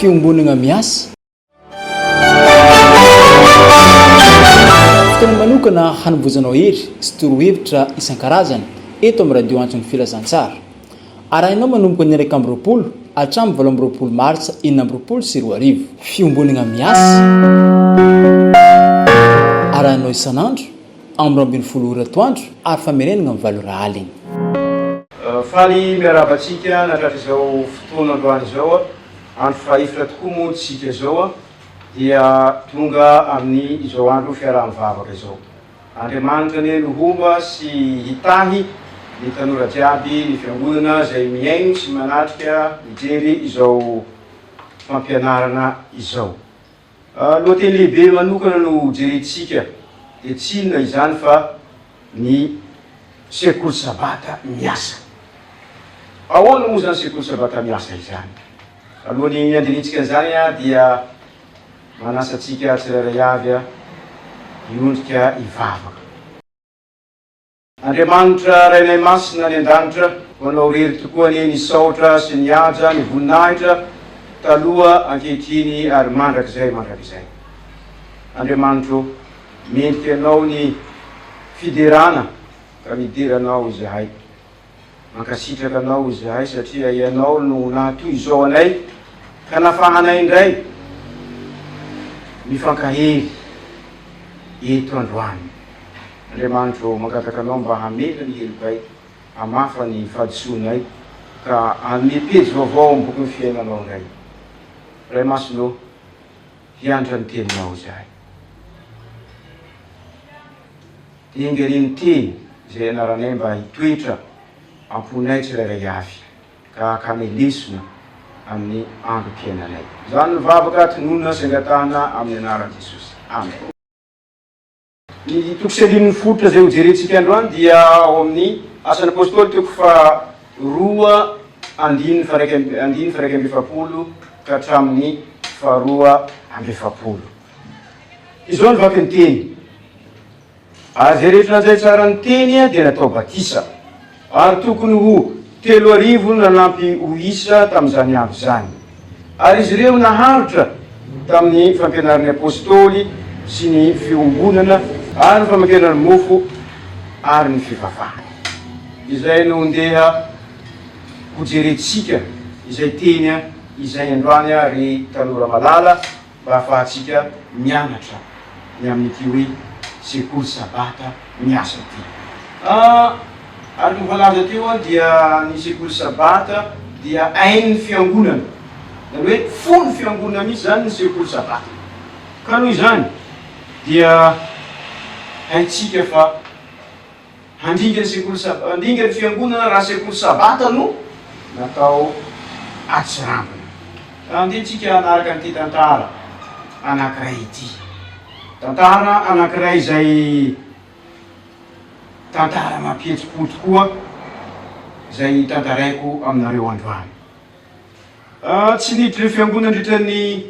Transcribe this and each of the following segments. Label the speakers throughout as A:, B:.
A: Fiombonana miasa. Fotoana manokana hanomboizanao hery sy torohevitra isan-karazany eto amin'ny Radio Antso ny Filazantsara. Arahinao manomboka ny iraika amby roapolo hatramin'ny valo amby roapolo martsa enina amby roapolo sy roa arivo. Fiombonana miasa. Arahinao isan'andro amin'ny roa ambin'ny folo ora atoandro ary famerenana amin'ny valo ora alina.
B: Faly miarahaba antsika natratra izao fotoana androany izao a, andro fahaefatra tokoa moa tsika izao a, dia tonga amin'ny izao andro fiaraha-mivavaka izao. Andriamanitra anie no homba sy hitahy ny tanora jiaby, ny fiangonana izay mihaino sy manatrika mijery izao fampianarana izao. Lohateny lehibe manokana no hojerentsika dia tsy inona izany fa ny Sekoly Sabata miasa. Ahoana moa izany Sekoly Sabata miasa izany? Alohan'ny handinintsika an'izany dia manasa antsika tsirairay avy hiondrika hivavaka. Andriamanitra Rainay Masina any An-danitra, Manao irery tokoa anie ny saotra sy ny haja, ny voninahitra, taloha, ankehitriny ary mandrakizay mandrakizay. Andriamanitra ô, mendrika Anao ny fiderana ka midera Anao izahay. Mankasitraka anao izahay satria ianao no naha toy izao anay ka nafahanay indray mifankahery eto androany. Andriamanitro mangataka anao mba hamela ny helokay hamafa ny fahadisoanay ka hanome pejy vaovao ao amin'ny bokin'ny fiainanao indray. Ray Masina ô, hiantra ny teninao izahay. Engerin teny izay anaranay mba hitoetra am-ponay tsirairay avy ka hakanay lesona amin'ny androm-piainanay. Izany no vavaka tononina sy angatahana amin'ny anaran'i Jesosy. Amen. Ny toko sy andininy fototra izay hojerentsika androany dia ao amin'ny Asan'ny Apôstôly toko faharoa andininy faha-iraika andininy faha-iraika amby efapolo ka hatramin'ny faharoa amby efapolo. Izao ny vaky ny teny. Ary izay rehetra nandray tsara ny teny dia natao batisa. Ary tokony ho telo arivo no nanampy ho isa tamin'izany andro izany. Ary izy ireo naharitra tamin'ny fampianarin'ny apostoly sy ny fiombonana ary ny famakena ny mofo ary ny fivavahana. Izay no ndeha hojerentsika izay teny izay androany ry tanora malala. Mba hahafahantsika mianatra ny amin'ity hoe Sekoly Sabata miasa ity. Araka ny voalaza teo dia ny Sekoly Sabata dia ain'ny Fiangonana. Izany hoe fon'ny Fiangonana mihitsy izany ny Sekoly Sabata. Ka noho izany dia haintsika fa. Handringa ny sekoly Sabata, handringa ny fiangonana raha sekoly Sabata no natao atsirambina. Andeha tsika hanaraka an'ity tantara anankiray ity. Tantara anankiray izay tantara mampihetsi-po tokoa izay tantaraiko aminareo androany. Tsy niditra fiangonana nandritra ny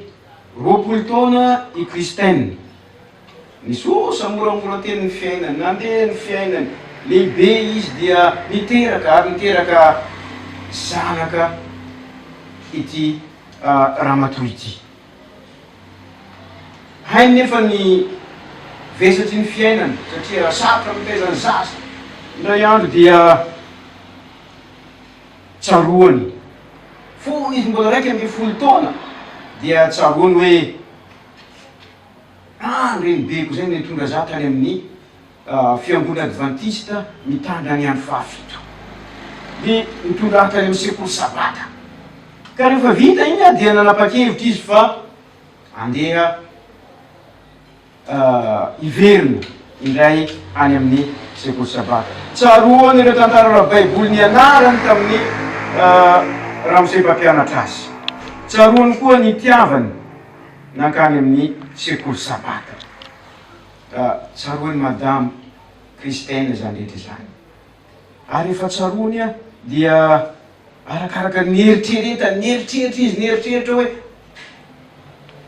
B: roapolo taona i Kristen. Nisosa moramora teny ny fiainany, nandeha ny fiainany, lehibe izy dia niteraka ary niteraka zanaka ity ramatoa ity. Hainy nefa ny vesatry ny fiainana satria sarotra ny mitaiza ny zaza, indray andro dia tsaroany fony izy mbola iraika ambin'ny folo taona dia tsaroany hoe. Ah, ny renibeko izay no nitondra za tany amin'ny fiangonana advantista mitandrina ny andro fahafito. Dia nitondra ahy tany amin'ny sekoly sabata. Ka rehefa vita iny aho dia nanapa-kevitra izy fa andeha hiverina indray any amin'ny sekoly sabata. Tsaroany ireo tantara ara-baiboly nianarany tamin'ny ramose mpampianatra azy. Tsaroany koa ny itiavany. nankany amin'ny sekoly sabata. Ka tsaroan'i Madame Christine izany rehetra izany. Ary rehefa tsaroany an, dia arakaraka ny nieritreretany, nieritreritra izy, nieritreritra hoe,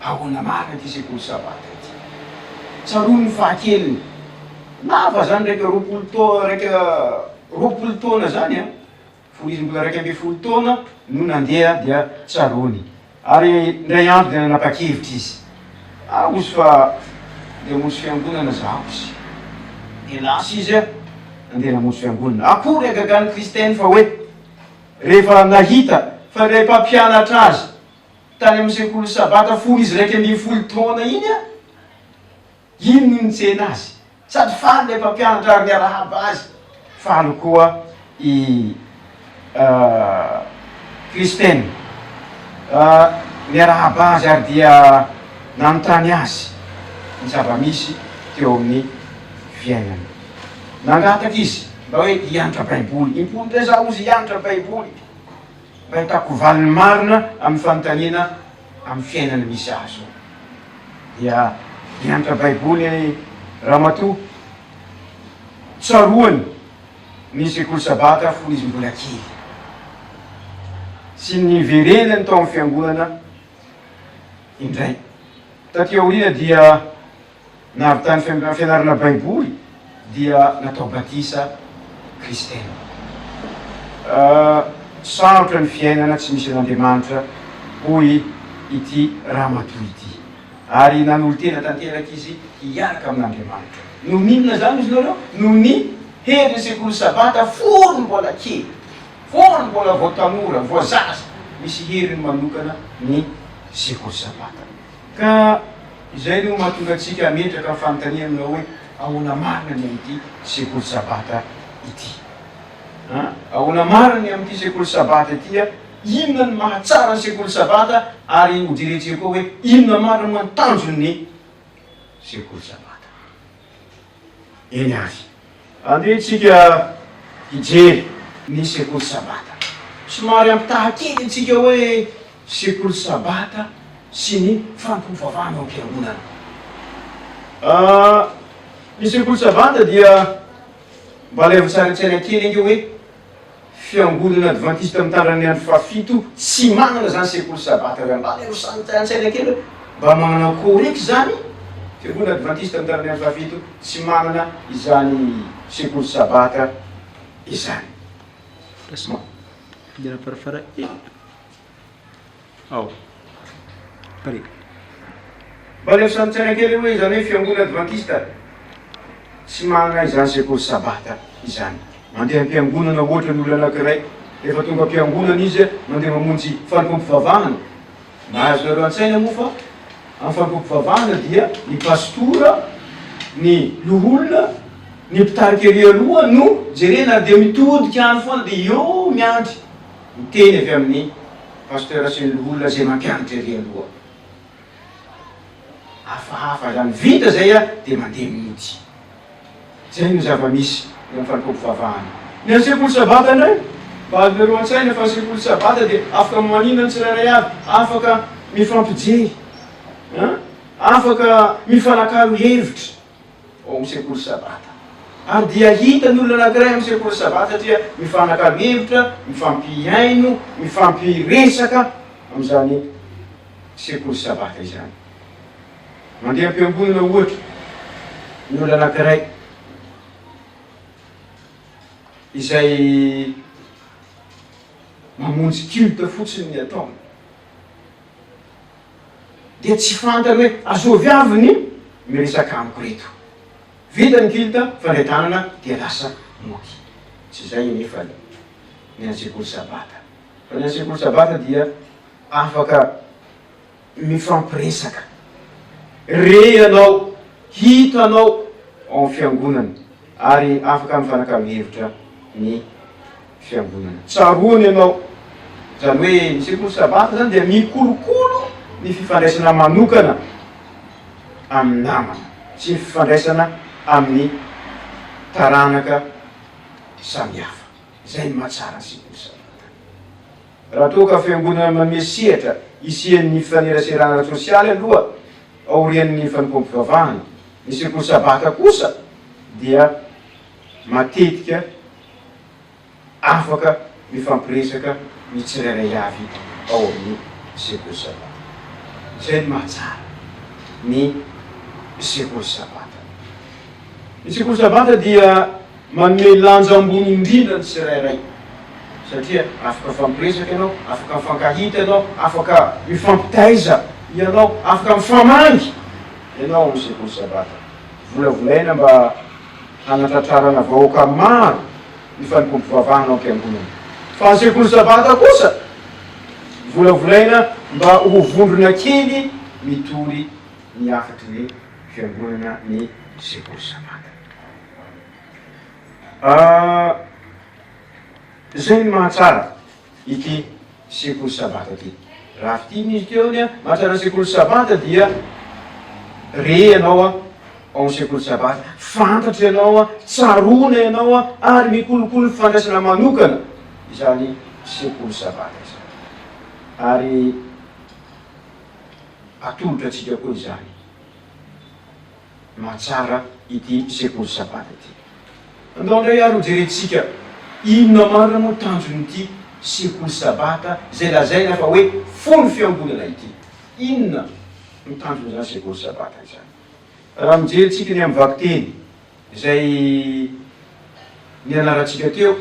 B: ahoana marina ity sekoly sabata ity. Tsaroany ny fahakeliny, lava izany, iraika roapolo taona, iraika roapolo taona izany an. Fony izy mbola iraika ambin'ny folo taona no nandeha dia tsaroany. Ary indray andro dia nanapa-kevitra izy, Aho ozy fa handeha hamonjy fiangonana izaho ozy. Dia lasa izy nandeha namonjy fiangonana. Akory hagagan'i Kristen fa hoe rehefa nahita fa ilay mpampianatra azy tany amin'ny sekoly Sabata fony izy iraika ambin'ny folo taona iny, Iny no nitsena azy. Sady faly ilay mpampianatra ary niarahaba azy. Faly koa i Kristen. Niarahaba azy ary dia nanontany azy ny zava-misy teo amin'ny fiainany. Nangataka izy mba hoe hianatra Baiboly. Im-polo taizà hozy hianatra Baiboly mba hitako valiny marina amin'ny fanontaniana. amin'ny fiainana misy ahy izao. Dia nianatra Baiboly Ramatoa, tsaroany ny Sekoly Sabata fony izy mbola kely, sy ny niverenany tao amin'ny Fiangonana indray. Taty aoriana dia na avy tany fianarana baiboly dia natao batisa kristiana. Sarotra ny fiainana tsy misy an'Andriamanitra hoy ity ramatoa ity ary nanolo-tena tanteraka izy hiaraka amin'Andriamanitra. Noho ny inona izany hozy nareo? Noho ny herin'ny sekoly sabata fony mbola kely, fony mbola vao tanora, vao zaza, misy heriny manokana ny sekoly sabata. Ka izay no mahatonga antsika hametraka ny fanontaniana aminao hoe, Ahoana marina ny amin'ity sekoly Sabata ity? An! Ahoana marina ny amin'ity sekoly Sabata ity? An! Inona no mahatsara ny sekoly Sabata? Ary hojerentsika koa hoe inona marina moa ny tanjon'ny sekoly Sabata. eny Azia. Andeha tsika hijery ny sekoly sabata. Somary ampitaha kely antsika hoe sekoly sabata sy ny fampiovaovana ao am-piangonana. Ny sekoly sabata dia mba alaivo an-tsary an-tsaina kely ange hoe. Fiangonana Advantista Mitandrina ny Andro Fahafito tsy manana izany sekoly Sabata irany. Mba aleo samy an-tsaina kely hoe mba manana akory eky izany? Fiangonana Advantista Mitandrina ny Andro Fahafito tsy manana izany sekoly Sabata izany.
A: ao. Pare.
B: Mba aleo sanintsaina kely hoe izany hoe fiangonana advantista tsy mahanay izany sekoly sabata izany. Mandeha am-piangonana ohatra ny olona anankiray, rehefa tonga am-piangonana izy mandeha mamonjy fanompoam-pivavahana. Mba azonareo an-tsaina moa fa amin'ny fanompoam-pivavahana dia ny pastora, ny loholona, ny mpitarika ery aloha no jerena ary dia mitodika any foana dia eo miandry Ny teny avy amin'ny Pasteur sy ny loholona izay mampianatra ery aloha. Hafahafa izany. Vita izay a, dia mandeha mihitsy. Izay no zava-misy eo amin'ny fanompoam-pivavahana. Ny an'ny sekoly sabata indray, mba avereo an-tsaina fa ny sekoly sabata dia afaka maninona ny tsirairay avy, afaka mifampijery, an, afaka mifanakalo hevitra. ao amin'ny sekoly Sabata. Andia hita ny olona anankiray ao amin'ny sekoly Sabata satria mifanakalo hevitra, mifampihaino, mifampiresaka amin'izany sekoly Sabata izany. Mandeha am-piangonana ohatra ny olona anankiray izay mamonjy culte fotsiny ny ataony. dia tsy fantany hoe azovy avy ny miresaka amiko reto. Vita ny kilt fandray tanana dia lasa mody. Tsy izay anefa ny ny an'ny sekoly sabata. Fa ny an'ny sekoly sabata dia afaka mifampiresaka. Re ianao, hitanao ao amin'ny fiangonana ary afaka mifanakalo hevitra ny fiangonana. Tsaroany ianao. Izany hoe ny sekoly sabata izany dia mikolokolo ny fifandraisana manokana amin'ny namana sy ny fifandraisana amin'ny taranaka samihafa. Izay ny mahatsara ny sekoly sabata. Raha toa ka fiangonana manome sehatra hisian'ny fifaneraserana ara-tsosialy aloha aorian'ny fanompoam-pivavahana, ny sekoly sabata kosa dia matetika. afaka mifampiresaka ny tsirairay avy ao amin'ny sekoly Sabata. Izay no mahatsara ny sekoly Sabata. Ny sekoly Sabata dia manome lanja ambony indrindra ny tsirairay satria afaka mifampiresaka ianao, afaka mifankahita ianao, afaka mifampitaiza ianao, afaka mifamangy ianao ao amin'ny sekoly Sabata. Volavolaina mba. Hanatratrarana vahoaka maro ny fanompoam-pivavahana ao am-piangonana. Fa ny sekoly sabata kosa volavolaina mba ho vondrona kely mitory ny hafatry ny fiangonana ny sekoly sabata. Ah, izay ny mahatsara. ity sekoly sabata ity. Raha fitia ny Elikeo anie an, mahatrana sekoly sabata dia re ianao an, ao amin'ny sekoly sabata, fantatra ianao an, tsaroana ianao an, ary mikolokolo ny fifandraisana manokana izany sekoly sabata izany. Ary atolotra antsika koa izany. mahatsara ity sekoly Sabata ity. Andao indray ary hojerentsika inona marina moa tanjon'ity sekoly Sabata izay lazaina fa hoe fony fiangonana ity. Inona no tanjon'izany sekoly Sabata izany? Raha mijery tsika ny amin'ny vakiteny izay nianarantsika teo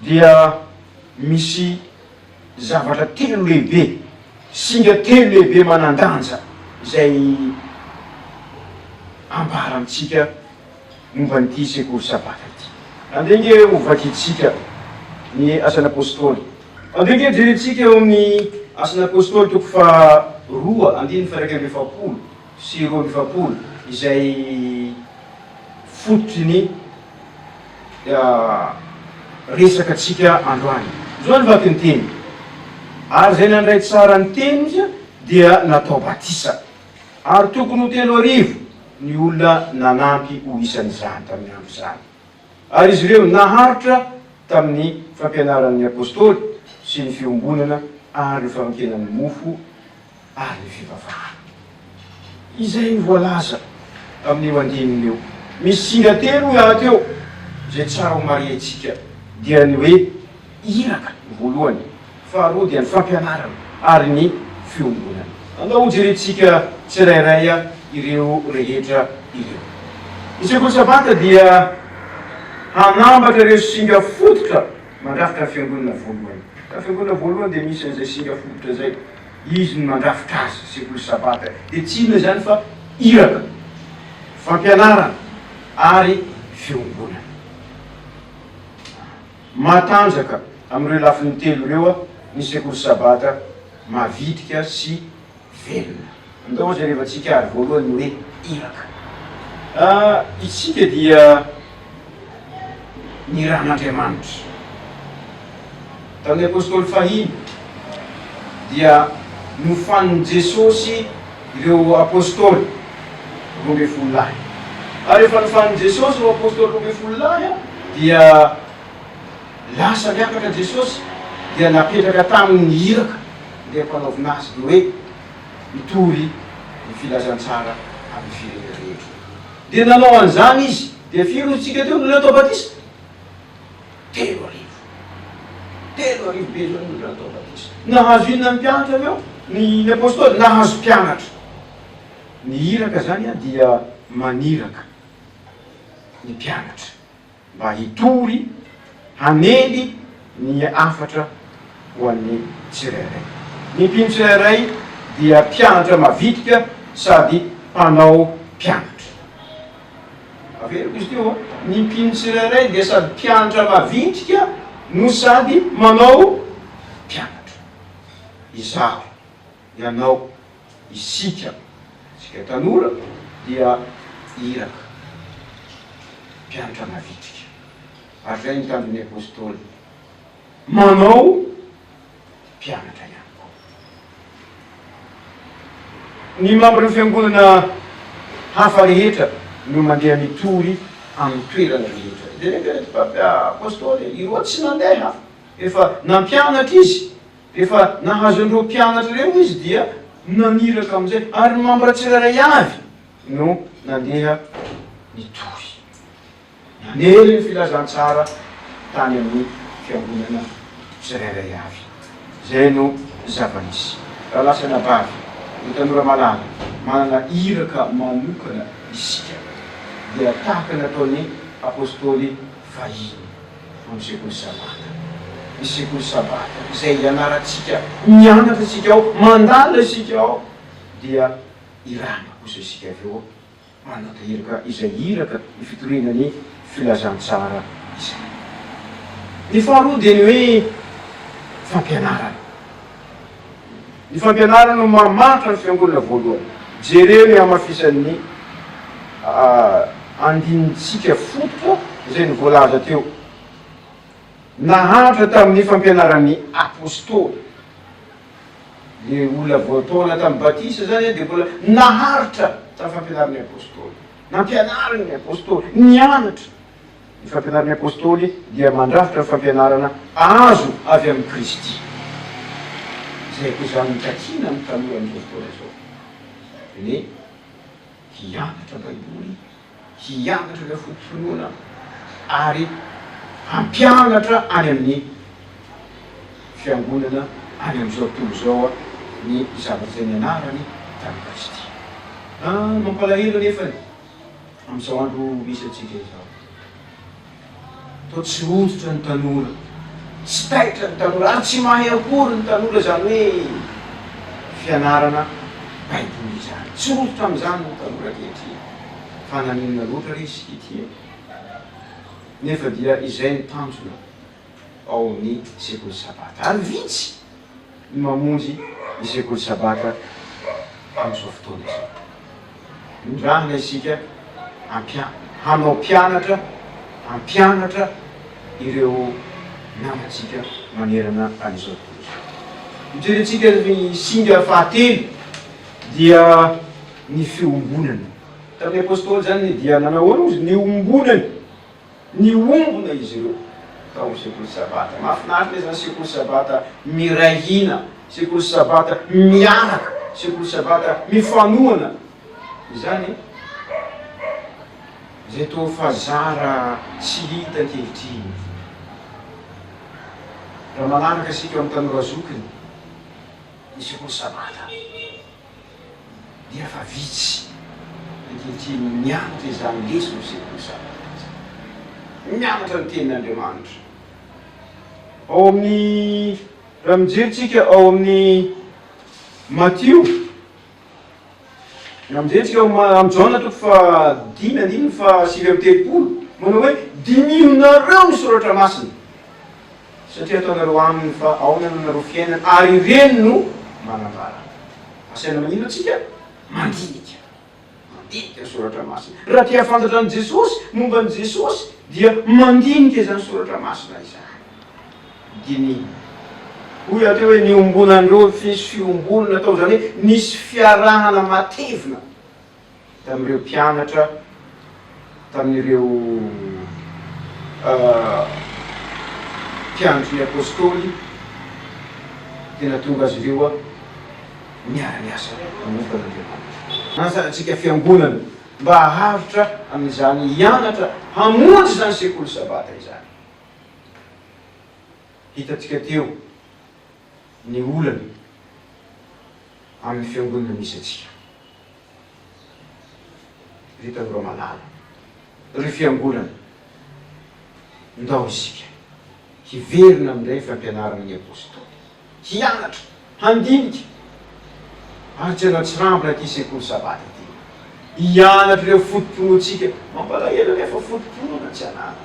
B: dia misy. Zavatra telo lehibe, singa telo lehibe manan-danja izay ambara amintsika momba an'ity sekoly Sabata ity. Andeha ange ho vakintsika ny Asan'ny Apôstôly. Andeha ange jerentsika eo amin'ny Asan'ny Apôstôly toko faharoa andininy faha-iraika amby efapolo sy roa amby efapolo izay fototry ny. resaka antsika androany. Zao ny vaky ny teny, ary izay nandray tsara ny teny dia natao batisa, ary tokony ho telo arivo ny olona nanampy ho isan'izany tamin'ny andro izany, ary izy ireo naharitra tamin'ny fampianaran'ny apostoly sy ny fiombonana ary ny fanompiana ny mofo, ary ny fivavahana. Izay voalaza amin'io andininy io. Misy singa telo miaraka eo izay tsara homarihintsika, dia ny hoe iraka voalohany, faharoa dia ny fampianarana ary ny fiombonana. Andao hojerentsika tsirairay ireo rehetra ireo. Ny sekoly Sabata dia hanambatra ireo singa fototra mandrafitra ny fiangonana voalohany. Ka ny fiangonana voalohany dia misy an'izay singa fototra izay. Izy no nandrafitra azy, sekoly Sabata. Dia tsy inona izany fa iraka, fampianarana ary fiombonana. Matanjaka amin'ireo lafiny telo ireo ny sekoly Sabata, mavitrika sy velona. Andao hojerevantsika ary voalohany ny hoe iraka. Isika dia. ny Ran'Andriamanitra. Tamin'ny Apostoly fahiny dia nofanin'i Jesosy ireo Apostoly roa ambin'ny folo lahy. Ary rehefa nofanin'i Jesosy ireo Apostoly roa ambin'ny folo lahy dia lasa niakatra Jesosy dia napetraka taminy ny iraka ndeha hampanaovina Azy dia hoe, Mitory ny filazantsara amin'ny firenena rehetra. Dia nanao an'izany izy. Dia firy ozintsika teo no leo tao batisa? Telo arivo. Telo arivo be izao no leo tao batisa. Nahazo inona ny mpianatra avy eo? Ny, ny apostoly? Nahazo mpianatra. Ny iraka izany dia maniraka ny mpianatra. mba hitory hanely ny hafatra ho an'ny tsirairay. Ny mpino tsirairay dia mpianatra mavitrika sady mpanao mpianatra. Averiko izy ity ô! Ny mpino tsirairay dia sady mpianatra mavitrika no sady manao mpianatra. Izaho, ianao, Isika, isika tanora dia iraka, mpianatra mavitrika. Ary izay nitandro ny Apostoly. Manao mpianatra ihany koa. Ny mambra ny fiangonana hafa rehetra no mandeha mitory amin'ny toerana rehetra. Dia nety hoe, Apostoly, ireo tsy nandeha, efa nampianatra izy. Rehefa nahazo an'ireo mpianatra ireo izy dia naniraka amin'izay, ary ny mambra tsirairay avy no nandeha nitory. Nanery ny filazantsara tany amin'ny fiangonana tsirairay avy. Izay no zava-nisy. Raha lasa anabavy no tanora malala, manana iraka manokana isika, dia tahaka ny nataon'ny apostoly fahiny. Ny sekoly sabata. Ny sekoly sabata izay ianarantsika, mianatra isika ao, mandalina isika ao, dia iràna kosa isika avy eo manatahiraka izay iraka ny fitoriana ny filazantsara izay. Ny faharoa dia ny hoe fampianarana. Ny fampianarana no mahantra ny fiangonana voalohany. Jereo ny hamafisan'ny andinin-tsika fototra izay ny voalaza teo. Nahantra tamin'ny fampianaran'ny Apostoly. Le olona voataona tamin'ny batisa zany dia mbola naharitra tamin'ny fampianaran'ny Apostoly. Nampianarin'ny Apostoly. Nianatra. Ny fampianaran'ny Apôstôly dia mandrafitra ny fampianarana azo avy amin'i Kristy. Izay akoizan'ny nitakiana ny tanora amin'izao fotoana izao, dia ny hoe hianatra Baiboly, hianatra ireo foto-pinoana ary hampianatra any amin'ny Fiangonana any amin'izao tontolo izao ny zavatra izay nianarany tamin'i Kristy. Mampalahelo anefa ny. Amin'izao andro misy antsika izao, toa tsy hoditra ny tanora, tsy taitra ny tanora, ary tsy mahay akory ny tanora izany hoe fianarana Baiboly izany. Tsy hoditra amin'izany ny tanora ankehitriny. Fa naninona loatra re izy ity e? Nefa dia izay ny tanjona. ao amin'ny sekoly sabata. Ary vitsy ny mamonjy ny sekoly sabata amin'izao fotoana izao. Mindrahina isika hampia, hanao mpianatra, hampianatra ireo namantsika manerana an'izao tontolo izao. Hijerintsika ny singa fahatelo, dia ny fiombonana. Tamin'ny Apôstôly izany ny dia nanahoana ozy? Niombonany. Niombona izy ireo tao amin'ny sekoly Sabata. Mahafinaritra izany sekoly Sabata miray hina, sekoly Sabata miaraka, sekoly Sabata mifanohana izany izay toa fa zara tsy hita ankehitriny. Raha manaraka isika amin'ny tanora zokiny ny sekoly Sabata, dia efa vitsy ankehitriny mianatra izany lesona eo sekoly sabatra izany. Mianatra ny tenin' Andriamanitra. Ao amin'ny, raha mijery tsika ao amin'ny Matio, raha mijery tsika ao amin'ny Jaona toko faha dimy andininy faha sivy amby telopolo, manao hoe, Dininareo ny soratra masina. satria ataonareo aminy fa aona no nareo fiainana ary ireny no manambara asaina manino atsika mandinika mandinika ny soratra masina raha te hafantatra an'i jesosy momba an'i jesosy dia mandinika izany soratra masina izany dinina hoy aty hoe niombonan'ireo fiombonana tao izany hoe nisy fiarahana matevina tamin'ireo mpianatra, tamin'ireo mpiandry ny Apôstôly, dia nahatonga azy ireo niara-niasa hanompo an'Andriamanitra. Manasa antsika Fiangonana mba haharitra amin'izany hianatra hamonjy izany Sekoly Sabata izany. Hitantsika teo ny olana amin'ny Fiangonana misy antsika. Vitan'i Ramalala. Ry fiangonana, ndao isika hiverina amin'ilay fampianarana ny Apostoly, hianatra, handinika, ary tsy hanatsirambina ity sekoly Sabata ity. Hianatra ireo foto-pinoantsika. Mampalahelo anefa foto-pinoana tsy ananana.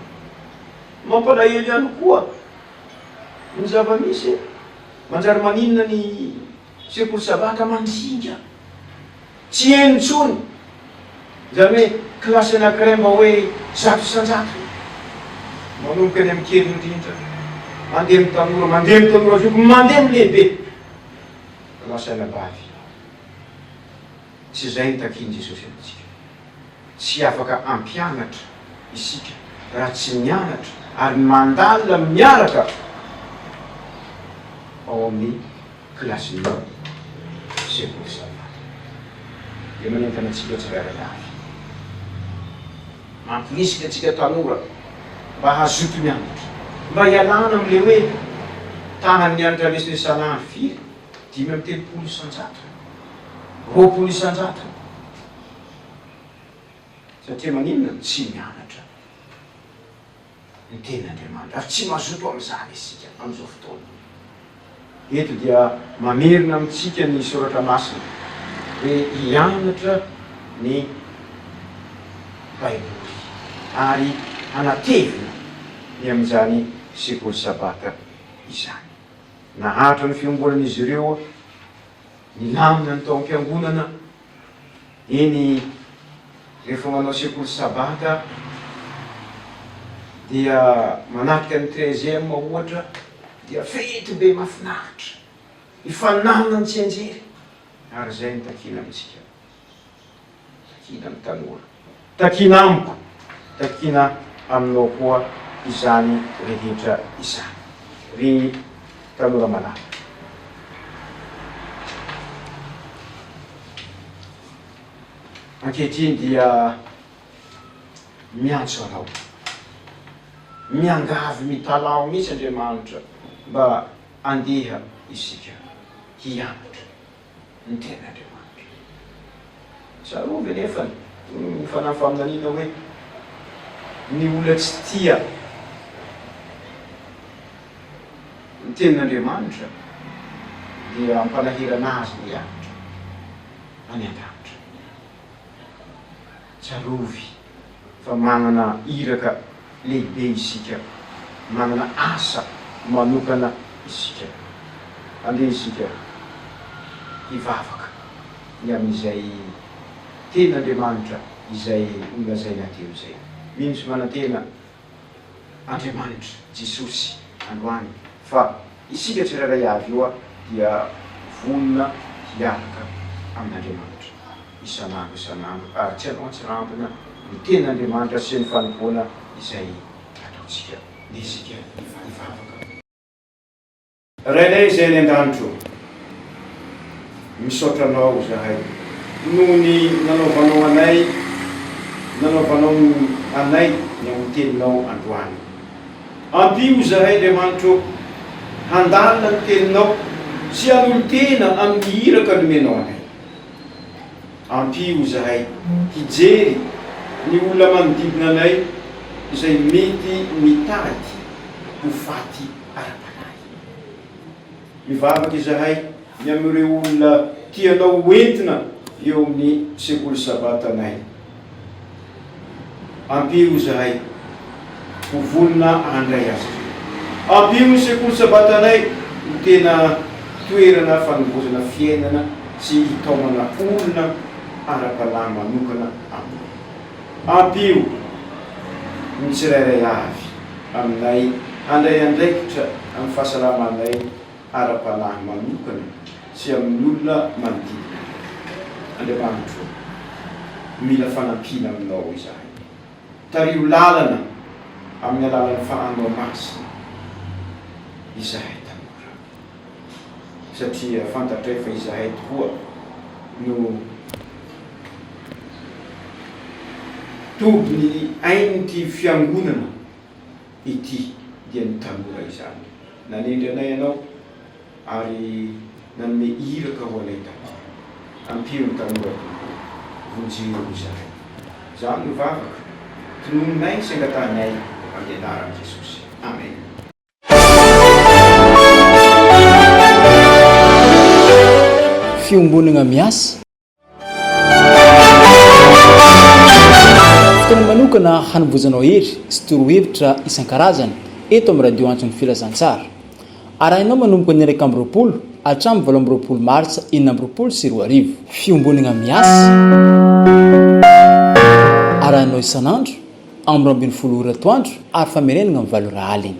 B: Mampalahelo ihany koa ny zava-misy e! Manjary maninona ny. Sekoly zavatra mandinika. Tsy heno intsony izany hoe kilasy anankiray mba hoe zato isan-jato. Manomboka any amin'ny kely indrindra, mandeha amin'ny tanora, mandeha amin'ny tanora zoky, mandeha amin'ny lehibe. Lasa anabavy. Tsy izay no takian'i Jesosy amintsika. Tsy afaka hampianatra isika raha tsy mianatra ary mandalina miaraka ao amin'ny. kilasin'ny sekoly samihafa dia manentana antsika tsirairay avy mampirisika antsika tanora mba hazoto mianatra, mba hialana amin'ilay hoe tahan'ny hanitra resesalan ary firy? dimy amby telopolo isan-jato? roapolo isan-jato? satria maninona no tsy mianatra? ny tenin'Andriamanitra, ary tsy mazoto amin'izany isika amin'izao fotoana. Eto dia mamerina amintsika ny Soratra Masina hoe hianatra ny Baiboly ary hanatevina ny amin'izany sekoly Sabata izany. Naharitra ny fiombonan'izy ireo nilamina ny tao am-piangonana Eny, rehefa manao sekoly sabata dia manatrika ny treize heures ohatra dia fety be mafinaritra, hifaninanina ny tsianjery ary izay no takiana amintsika, takiana ny tanora. Takiana amiko, takiana aminao koa izany rehetra izany, ry tanora malala. Ankehitriny dia miantso anao, miangavy mitalaho mihitsy Andriamanitra mba andeha isika hianatra. ny Tenin'Andriamanitra. Tsarovy anefa ny fanahy faminaniana hoe, Ny olona tsy tia ny Tenin'Andriamanitra dia ampanahirana azy ny hihatra any an-danitra. Tsarovy fa manana iraka lehibe isika, manana asa manokana isika. Andeha isika hivavaka ny amin'izay tenin'Andriamanitra izay nolazainay teo izay. Mino sy manantena Andriamanitra, Jesosy, androany, fa isika tsirairay avy eo dia vonona hiaraka amin'Andriamanitra isan'andro isan'andro ary tsy atao antsirambina ny tenin'Andriamanitra sy ny fanompoana izay ataontsika na isika mivavaka. Rainay izay any an-danitro ô, misaotra Anao izahay noho ny nanaovanao anay, nanaovanao anay ny amin'ny Teninao androany. Ampio izahay, Andriamanitra ô, handalina ny Teninao sy hanolo-tena amin'ny iraka nomenao anay. Ampio izahay hijery ny olona manodidina anay izay mety mitady ho faty. ara-panahy. Mivavaka izahay ny amin'ireo olona tianao ho entina eo amin'ny Sekoly Sabatanay. Ampio izahay ho vonona handray azy ireo. Ampio ny Sekoly Sabatanay ho tena toerana fanovozana fiainana sy hitaomana olona ara-panahy manokana Aminao. Ampio ny tsirairay avy aminay handray andraikitra amin'ny fahasalamanay ara-panahy manokana sy amin'ny olona manodidina anay. Andriamanitro ô, mila fanampiana Aminao izahay. Tariho lalana amin'ny alalan'ny Fanahinao Masina izahay tanora. satria fantatray fa izahay tokoa no toby ny ain'ity fiangonana ity dia ny tanora izany nanendry anay ianao ary nanome iraka ho anay tanora ampio ny tanora tompoko vonjeo izahay izany no vavaka tinoninay sy angatahinay ampianaran'i Jesosy Amen.
A: Fiombonana miasa. Fotoana manokana hanomboizanao hery sy torohevitra isan-karazany eto amin'ny Radio Antso ny Filazantsara. Arahinao manomboka ny iraika amby roapolo hatramin'ny valo amby roapolo martsa enina amby roapolo sy roa arivo. Fiombonana miasa. Arahinao isan'andro amby roa ambin'ny folo ora atoandro ary famerenana amin'ny valo ora alina.